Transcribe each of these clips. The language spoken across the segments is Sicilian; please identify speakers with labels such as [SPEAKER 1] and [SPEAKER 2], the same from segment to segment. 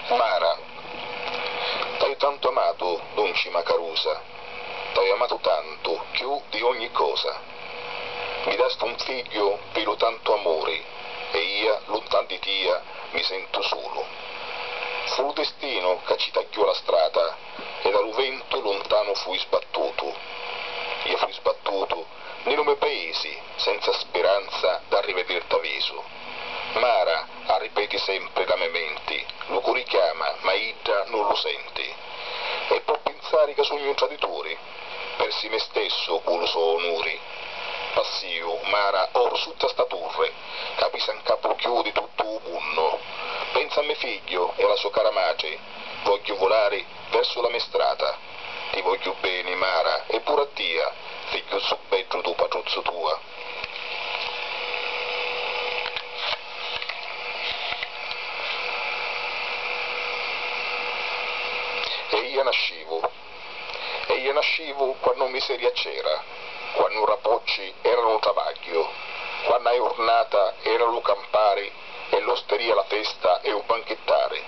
[SPEAKER 1] Mara. T'haiu tantu amatu, dunci Macarusa, t'haiu amatu tantu, chiù di ogni cosa. Mi dasti un figghiu pi lu tantu amuri e ia luntan di tia mi sentu sulu. Fu lu destinu ca ci tagghiò la strata e da lu ventu luntanu fui sbattutu. Ia fui sbattutu ni lu me paisi senza spiranza d'arrivedirt'a visu. Mara, arripeti sempri la me menti, lu curi chiama, ma idda nun lu senti. E pò pinsari ca sugnu un tradituri? Persi me stessu cu lu so onuri. Passìu, Mara, oru sutta sta turri, ca pisa 'n capu cchiù di tuttu u munnu. Pensa a me figghiu e a la so cara matri, vogghiu vulari versu la me strata. Ti vogghiu beni, Mara, e puru a tia, figghiuzzu beddu du patruzzu tua. E ija nascivu. E ija nascivu quannu miseria c'era, quannu rapocci era lu travagghiu, quanna jurnata era lu campari e l'osteria la festa e u banchittari.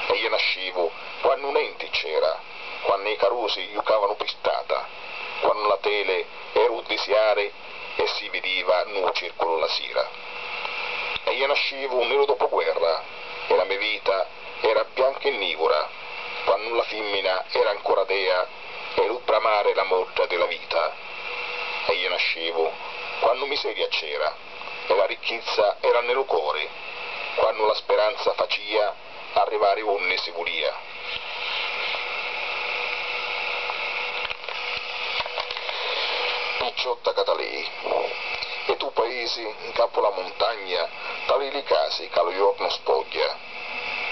[SPEAKER 1] E ija nascivu quannu nenti c'era, quannu i carusi jucavanu pi strata, quannu la tele e u disiari e si vidiva nu circulu la sira e ia nascivu ni lu dopuguerra e la me vita era bianca e nivura quannu la fimmina era ancora dea e lu bramari la modda di la vita e ia nascivu quannu miseria c'era e la ricchizza era ni lu cori quannu la speranza facia arrivari unni si vulia. Picciotta ca talii e tu paisi 'ncapu la muntagna talii li casi ca lu jornu spogghia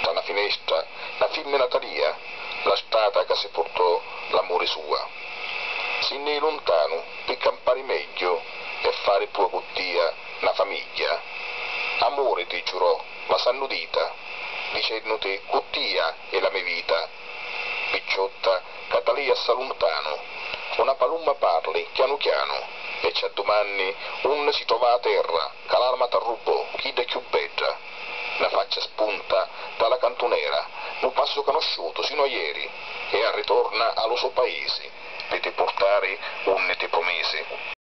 [SPEAKER 1] tra na finestra na fimmina talia la strata ca si purtò l'amuri sua si nni jì luntanu pi campari megghiu e fari pua cu tia na famigghia amuri ti giurò ma s'hannu dita, dicennuti cu tia è la me vita, picciotta ca da lei assai luntanu, cu na palumma parli chianu chianu e ci addumanni unni si trova a terra ca l'arma t'arrubbò, chidda chiù bedda, na faccia spunta da la cantunera, nu passu canosciutu sinu a ieri e arritorna a lu so paisi pi ti purtari unni ti prumisi.